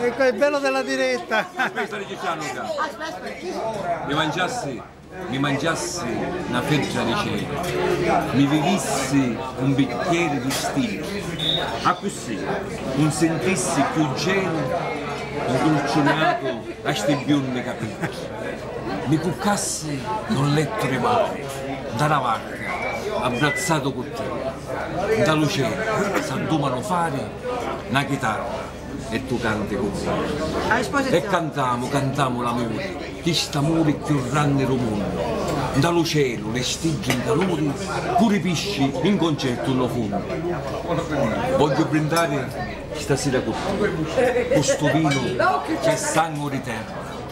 Ecco il bello della diretta! Aspetta che c'hanno qua! Mi mangiassi, mi mangiassi na fedda di cena, mi vivissi un bicchieri di stinu, accussì un sintissi cchiù genu ncurcunatu a sti biundi capiddi. Mi cuccassi un lettu di mari, nta na varca, abbrazzatu cu te, nta lu celu s'addumanu fari na chitarra. e tu canti cu mia. E cantamu, cantamu l'amuri, chist'amuri cchiù ranni d'u munnu, nta lu celu li stiddi 'n caluri, puru i pisci in concertu nn'o funnu. Vogghiu brindari stasira cu tia, cu stu vinu ch'è sangu di terra.